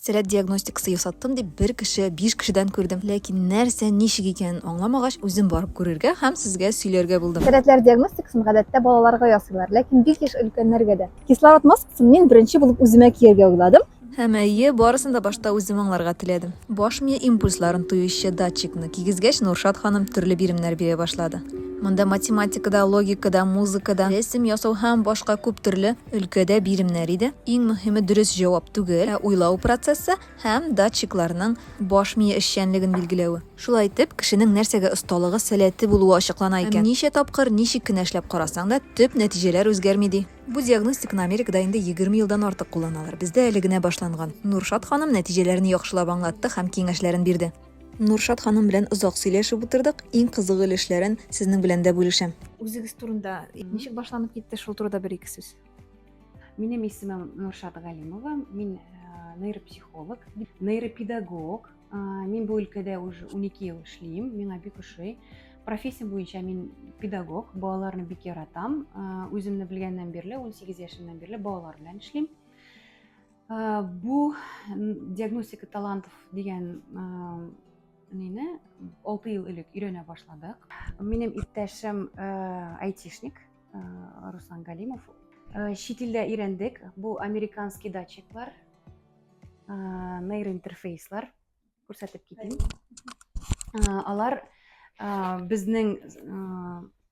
Сәләт диагностикасы ясаттым дип, бер кеше, биш кешедән күрдем. Ләкин нәрсә, ничек икәнен аңламагач, үзем барып күрергә һәм сезгә сөйләргә булдым. Сәләтләр диагностикасын гадәттә балаларга ясыйлар, ләкин бик еш өлкәннәргә дә. Кислород маскасын мин беренче булып үземә кияргә уйладым. Һәм, әйе, барысын да башта үзем аңларга теләдем. Баш мие импульсларын тоючы датчикны кигезгәч, Нуршат ханым төрле биремнәр бирә башлады. Монда математика да, логика да, музыка да, рәсем ясау һәм башка күп төрле. өлкәдә биремнәр иде. Иң мөһиме дөрес җавап түгел, ә уйлау процессы һәм датчикларның баш мие эшчәнлеген билгеләве. Шулай итеп, кешенең нәрсәгә осталыгы, сәләте булуы ачыклана икән. Һәм ничә тапкыр, ничек кенә эшләп карасаң да, төп нәтиҗәләр үзгәрми, ди. Бу диагностиканы Америкада инде егерме елдан артык кулланалар. Бездә әле генә башланган. Нуршат ханым нәтиҗәләрне яхшылап аңлатты һәм киңәшләрен бирде. Нуршат ханым белән озак сөйләшеп утырдык. Иң кызык өлешләрен сезнең белән дә бүлешәм. Үзегез турында ничек башланып китте, шул турыда бер ике сүз. Минем исемем Нуршат Галимова. Мин э, нейропсихолог, нейропедагог. Э, мин бу өлкәдә уже 12 ел эшлим. Миңа бик ошый. Профессия буенча мин педагог, балаларны бик яратам. Э, үземне белгәннән бирле, 18 яшемнән бирле балалар белән эшлим. Э, бу диагностика талантов дигән э, нени алты ел элек өйрәнә башладык минем иптәшем э, айтишник руслан галимов чит илдә өйрәндек бу американский датчиклар нейроинтерфейслар күрсәтеп китим алар безнең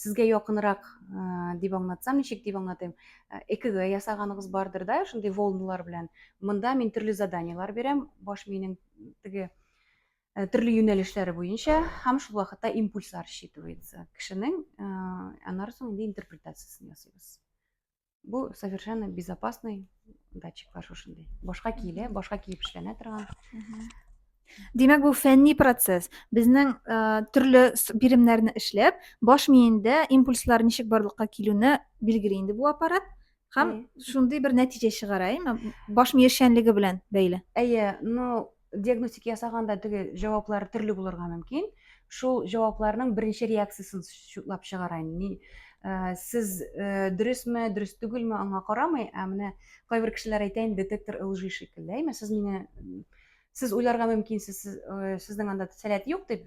Сезгә якынрак дип аңлатсам, ничек дип аңлатыйм? ЭКГ ясаганыгыз бардыр да, шундый волналар белән. Монда мин төрле заданиелар бирәм, баш миенең теге төрле юнәлешләре буенча һәм шул вакытта импульслар считывается кешенең, аннары соң инде интерпретациясен ясыйбыз. Бу совершенно безопасный датчиклар шушындый. Башка киелә, башка киеп эшләнә торган. Димәк, бу фәнни процесс. Безнең э, төрле биремнәрне эшләп, баш миендә импульслар ничек барлыкка килүне билгели инде бу аппарат. Һәм шундый бер нәтиҗә чыгара, әйме? Баш миешчәнлеге белән бәйле. Әйе, но диагностика ясаганда теге җаваплар төрле булырга мөмкин шул җавапларның беренче реакциясен шутлап чыгарайын ни ә, сез ә, дөресме дөрес түгелме аңа карамый ә менә кайбер кешеләр әйтә инде детектор лжи шикелле әйме сез мине сез уйларга мөмкинсез сез, ә, сезнең анда сәләт юк дип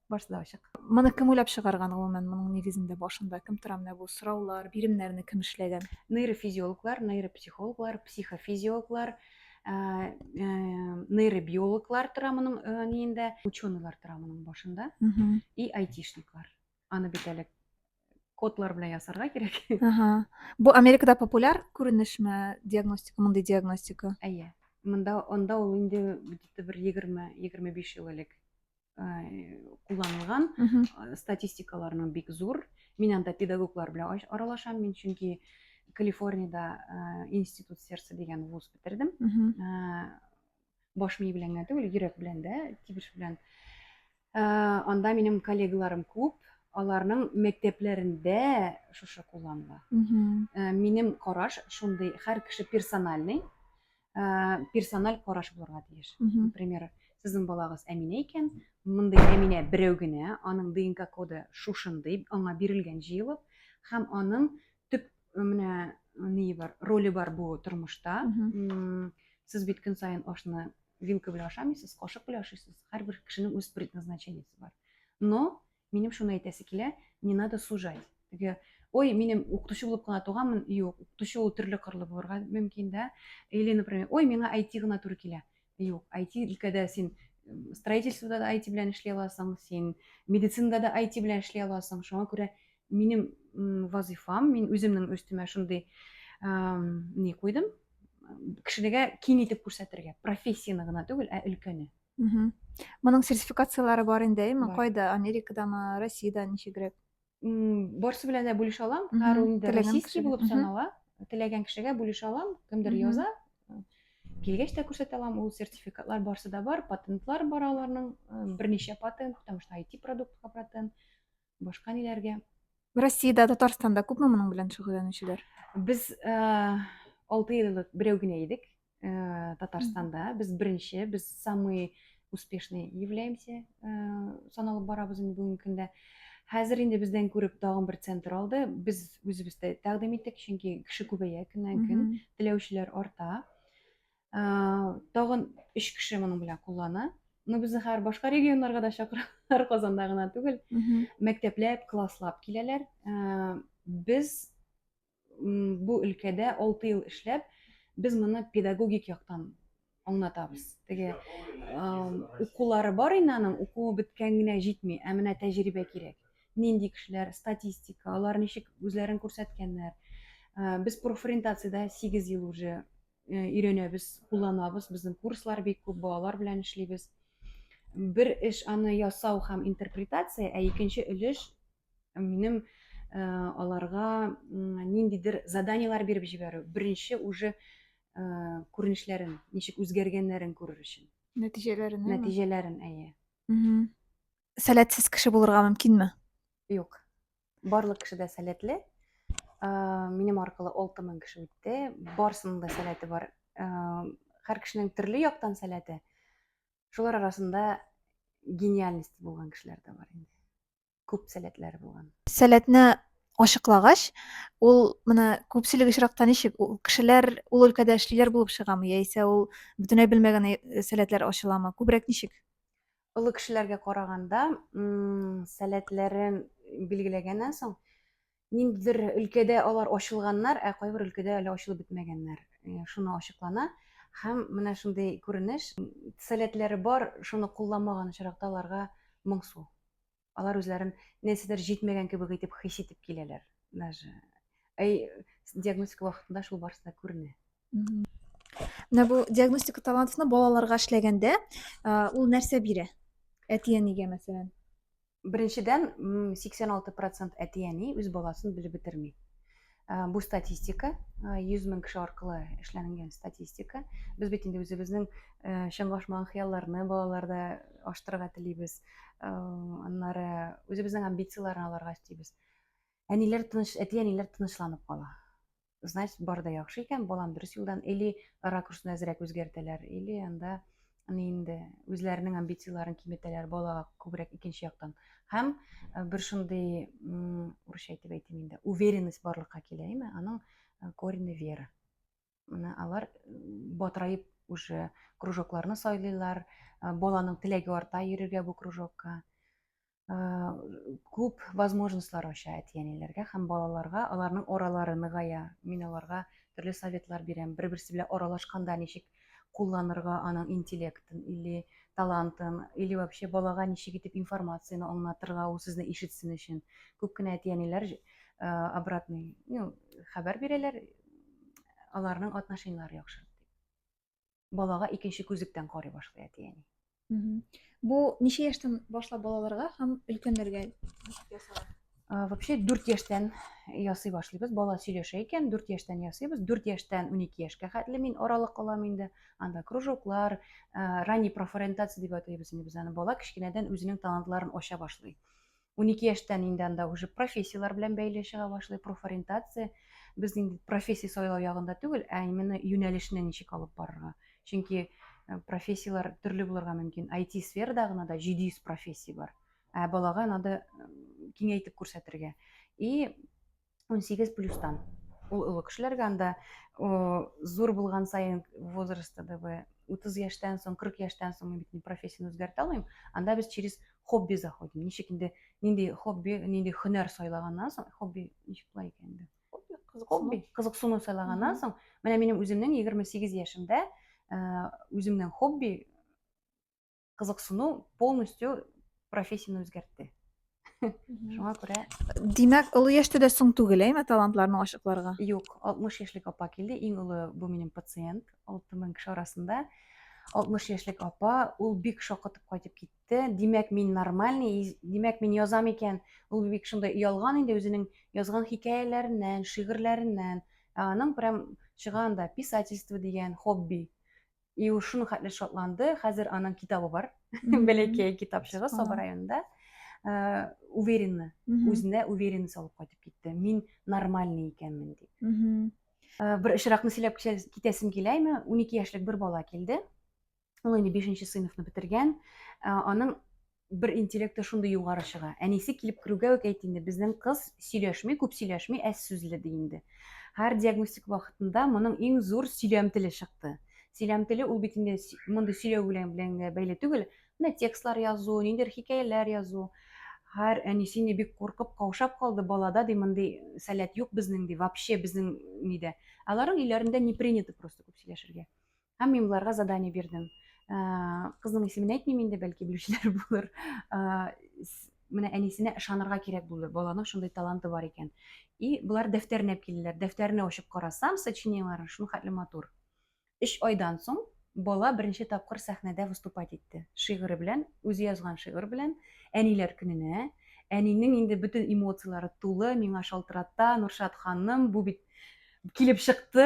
барысы да ачык моны кем уйлап чыгарган гомумән моның нигезендә башында кем тора менә бу сораулар биремнәрне кем эшләгән нейрофизиологлар нейропсихологлар психофизиологлар ә, ә, нейробиологлар тора моның ә, ниендә ученыйлар тора моның башында и айтишниклар аны бит әле кодлар белән ясарга кирәк ага. бу америкада популяр күренешме диагностика мондый диагностика әйе монда анда ул инде где то бер егерме егерме биш ел элек кулланылган статистикаларның бик зур мин анда педагоглар белән аралашам мин чөнки калифорнияда институт сердца дигән вуз бетердем баш мие белән генә түгел йөрәк белән дә тибеш белән анда минем коллегаларым күп аларның мәктәпләрендә шушы кулланыла минем караш шундый һәр кеше персональный ә, персональ караш булырга тиеш. Например, сезнең балагыз Әминә икән, мондый Әминә берәү генә, аның ДНК коды шушындый, аңа бирелгән җыелып, һәм аның төп менә ни бар, роле бар бу тормышта. Сез бит көн саен ашны вилка белән ашамыйсыз, кашык белән ашыйсыз. Һәрбер кешенең үз предназначениесе бар. Но Минем шуны әйтәсе килә, не надо сужать. Теге, ой, минем укытучы булып кына туганмын, юк, укытучы ул төрле кырлы булырга мөмкин, да. Или, например, ой, миңа IT гына туры килә. Юк, IT өлкәдә син строительствода да IT белән эшли аласың, син медицинада да IT белән эшли аласың. Шуңа күрә минем вазифам, мин үземнең өстемә шундый не куйдым, кешеләргә киң итеп күрсәтергә, профессияне гына түгел, ә өлкәне. Моның сертификацияләре бар инде, әйме? Кайда? Америкадамы, Россиядә ничегрәк? Барсы белән дә бүлешә алам. Һәр ул инде российский булып санала. Теләгән кешегә бүлешә алам, кемдер яза. Килгәч тә күрсәтә алам, ул сертификатлар барсы да бар, патентлар бар аларның, берничә патент, потому что IT продуктка патент. башка ниләргә россиядә татарстанда күпме моның белән шөгыльләнүчеләр без э, алты ел элек берәү генә идек э, татарстанда без беренче без самый успешный являемся э, саналып барабыз инде бүгенге көндә хәзер инде бездән күреп тагын бер центр алды без үзебез дә тәкъдим иттек чөнки кеше күбәя көннән көн теләүчеләр арта тагын өч кеше моның белән куллана ну без хәзер башка регионнарга да чакыралар казанда гына түгел мәктәпләп класслап киләләр без бу өлкәдә алты ел эшләп без моны педагогик яктан аңлатабыз теге укулары бар инде аның укуы беткән генә җитми ә менә тәҗрибә кирәк нинди кешеләр статистика алар ничек үзләрен күрсәткәннәр без профориентациядә сигез ел уже өйрәнәбез, кулланабыз. Безнең курслар бик күп, балалар белән эшлибез. Бер эш аны ясау һәм интерпретация, ә икенче өлеш минем э, аларга ниндидер заданиеләр биреп җибәрү. Беренче уже э, күренешләрен, ничек үзгәргәннәрен күрер өчен. Нәтиҗәләрен. Нәтиҗәләрен, әйе. сәләтсез кеше булырга мөмкинме? Юк. Барлык кеше дә сәләтле. Минем аркылы 6000 кеше үтте. Барсының да сәләте бар. Һәр кешенең төрле яктан сәләте. Шулар арасында гениальность булган кешеләр дә бар инде. Күп сәләтләре булган. Сәләтне ачыклагач, ул менә күпчелек очракта ничек ул кешеләр ул өлкәдә эшлиләр булып чыгамы яисә ул бөтенләй белмәгән сәләтләр ачыламы? Күбрәк ничек? олы кешеләргә караганда сәләтләрен билгеләгәннән соң ниндидер өлкәдә алар ачылганнар ә кайбер өлкәдә әле ачылып бетмәгәннәр э, шуны ачыклана һәм менә шундый күренеш сәләтләре бар шуны кулламаган очракта аларга моңсу Алар үзләрен нәрсәдер җитмәгән кебек итеп хис итеп киләләр. Даже әй диагностика вакытында шул барысы да күренә. Менә бу диагностика талантны балаларга эшләгәндә, ул нәрсә бирә? Әти-әнигә мәсәлән. Беренчедән 86% әти-әни үз баласын белеп бетерми. Э, бу статистика 100 э, мең кеше аркылы эшләнгән статистика без бит инде үзебезнең э, чыңлашмаган хыялларны балаларда аштырырга телибез аннары үзебезнең амбицияләрне аларга өстибез әниләр тыныч әти әниләр тынычланып кала значит бар да яхшы икән балам дөрес юлдан или ракурсын әзрәк үзгәртәләр или анда аны инде үзләренең амбицияләрен киметәләр балага күбрәк икенче яктан һәм э, бер шундый урысча әйтеп әйтим инде уверенность барлыкка килә әйме аның э, корени вера менә алар батыраеп уже кружокларны сайлыйлар э, баланың теләге арта йөрергә бу кружокка күп возможностьлар ача әти-әниләргә һәм балаларга, аларның аралары ныгая. Мин аларга төрле советлар бирәм. Бер-берсе белән аралашканда ничек кулланырга аның интеллектын или талантын, или вообще балага ничек итеп информацияне аңлатырга, ул сезне ишетсен өчен. Күп кенә әти-әниләр обратный, ну, хәбәр бирәләр, аларның отношениеләре яхшы. балага икенче күзлектән карый башлый әти-әни. Бу ничә яшьтән башлап балаларга һәм өлкәннәргә ясала? Вообще 4 яшьтән ясый башлыйбыз. Бала сөйләшә икән, 4 яшьтән ясыйбыз. 4 яшьтән 12 яшькә хәтле мин аралык алам инде. Анда кружоклар, ранний профориентация дип атыйбыз инде без аны. Бала кечкенәдән үзенең талантларын ача башлый. 12 яшьтән инде анда уже профессияләр белән бәйле чыга башлый, профориентация. Без инде профессия сайлау ягында түгел, ә именно юнәлешне ничек алып барырга. Чөнки э, профессияләр төрле булырга мөмкин. IT-сферада гына да 700 профессия бар. Ә балага надо э, киңәйтеп күрсәтергә. И 18 плюстан. Ул олы кешеләргә анда зур булган сайын возрастта да вы 30 яшьтән соң, 40 яшьтән соң мин бит не профессияне үзгәртә алмыйм. Анда без через хобби заходим. Ничек инде нинди хобби, нинди һөнәр сайлаганнан соң, хобби ничек була икән инде? Хобби, кызыксыну сайлаганнан соң, менә минем үземнең 28 яшемдә үземнең хобби кызыксыну полностью профессияне үзгәртте шуңа күрә димәк олы яшьтә дә соң түгел әйме талантларны ачыкларга юк алтмыш яшьлек апа килде иң олы бу минем пациент алты мең кеше арасында алтмыш яшьлек апа ул бик шакытып кайтып китте димәк мин нормальный димәк мин язам икән ул бик шундай оялган инде үзенең язган хикәяләреннән шигырьләреннән ә аның прям чыга анда писательство дигән хобби И ул шулхәтле шатланды, хәзер аның китабы бар, бәләкәй китапчыгы Саба районында. Э, уверенны, үзенә уверенность алып кайтып китте. Мин нормальный икәнмен дип. Э, бер очракны сөйләп китәсем киләме? 12 яшьлек бер бала килде. Ул инде 5 сыйныфны бетергән. Э, аның бер интеллекты шундый югары чыга. Әнисе килеп керүгә үк әйт инде, безнең кыз сөйләшми, күп сөйләшми, әз сүзле ди инде. Һәр диагностик вакытында моның иң зур сөйләм теле чыкты. Сөйләм теле ул бит инде мондый сөйләү белән белән бәйле түгел. Менә текстлар язу, ниндер хикәяләр язу. Һәр әнисе инде бик куркып, каушап калды, балада ди мондый сәләт юк безнең ди, вообще безнең нидә. Аларның өйләрендә не принято просто күп сөйләшергә. Һәм мин боларга задание бирдем. Кызның исемен әйтмим инде, бәлки белүчеләр булыр. Менә әнисенә ышанырга кирәк булды. Баланың шундый таланты бар икән. И болар дәфтәрне алып килделәр. Дәфтәрне ачып карасам, сочинениеләре шул хәтле матур. Өч айдан соң бала беренче тапкыр сәхнәдә выступать итте. Шигыре белән, үзе язган шигырь белән, әниләр көненә. Әнинең инде бөтен эмоцияләре тулы, миңа шалтырата, Нуршат ханым, бу бит килеп чыкты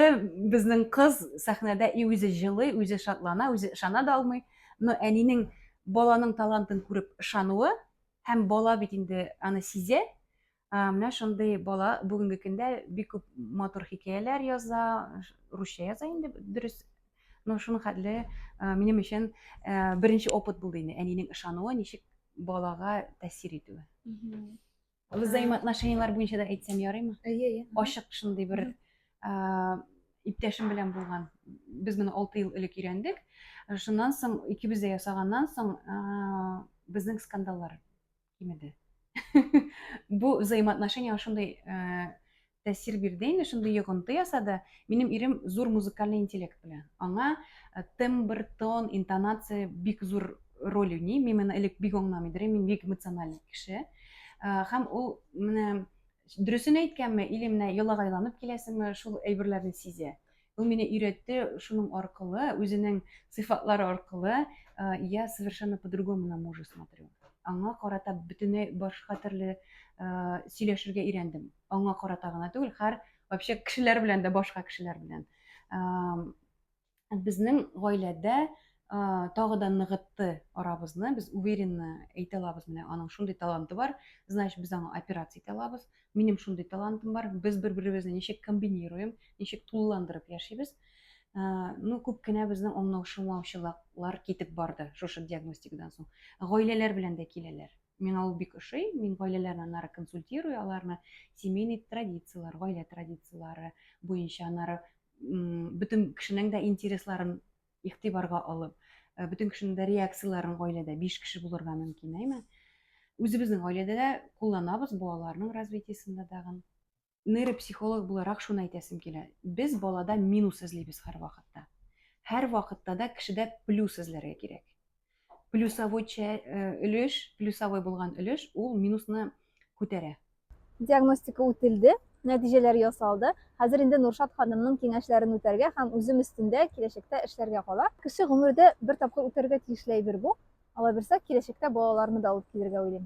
безнең кыз сәхнәдә и үзе җылый үзе шатлана үзе ышана да алмый но әнинең баланың талантын күреп ышануы һәм бала бит инде аны сизә менә шундый бала бүгенге көндә бик күп матур хикәяләр яза русча яза инде дөрес но шуның хәтле минем өчен беренче опыт булды инде әнинең ышануы ничек балага тәэсир итүе Взаимоотношенияләр буенча да әйтсәм ярыймы? Әйе, әйе. Ачык шундый бер иптәшем белән булган. Без моны 6 ел элек өйрәндек. Шуннан соң икебез дә ясаганнан соң безнең скандаллар кимеде. Бу взаимоотношения шундый тәэсир бирде инде, шундый йогынты ясады. Минем ирем зур музыкальный интеллект белән. Аңа э, тембр, тон, интонация бик зур роль уйный. Мин моны элек бик аңламый идем, мин бик эмоциональный кеше. Э, һәм ул менә дөресен әйткәнме, или менә йолага айланып киләсеңме, шул әйберләрне сизә. Ул мине өйрәтте шуның аркылы, үзенең сыйфатлары аркылы, э, я совершенно по-другому на мужа смотрю. Аңа карата бөтенләй башка төрле сөйләшергә өйрәндем. аңа карата гына түгел һәр вообще кешеләр белән дә башка кешеләр белән безнең гаиләдә тагы да ныгытты арабызны без уверенно әйтә алабыз менә аның шундый таланты бар значит без аңа операция итә алабыз минем шундый талантым бар без бер беребезне ничек комбинируем ничек тулыландырып яшибез ну күп кенә безнең аңлаушылмаучылыклар китеп барды шушы диагностикадан соң гаиләләр белән дә киләләр Миңа ул бик ошый. Мин гаиләләрне аннары консультирую, аларны семейный традицияләр, гаилә традицияләре буенча аннары бөтен кешенең дә интересларын игътибарга алып, э, бөтен кешенең дә реакцияләрен гаиләдә 5 кеше булырга мөмкин, әйме? Үзебезнең гаиләдә дә кулланабыз балаларның развитиесендә дагы. нейропсихолог буларак шуны әйтәсем килә. Без балада минус эзлибез һәрвакытта. Һәрвакытта да кешедә плюс эзләргә кирәк. Плюсовой э, өлеш, плюсовой булган өлеш ул минусны күтәрә. Диагностика үтелде, нәтиҗәләр ясалды. Хәзер инде Нуршат ханымның киңәшләрен үтәргә һәм үзем өстендә киләчәктә эшләргә кала. Кеше гомердә бер тапкыр үтәргә тиешле әйбер бу. Алабирса киләчәктә балаларны да алып килергә уйлыйм.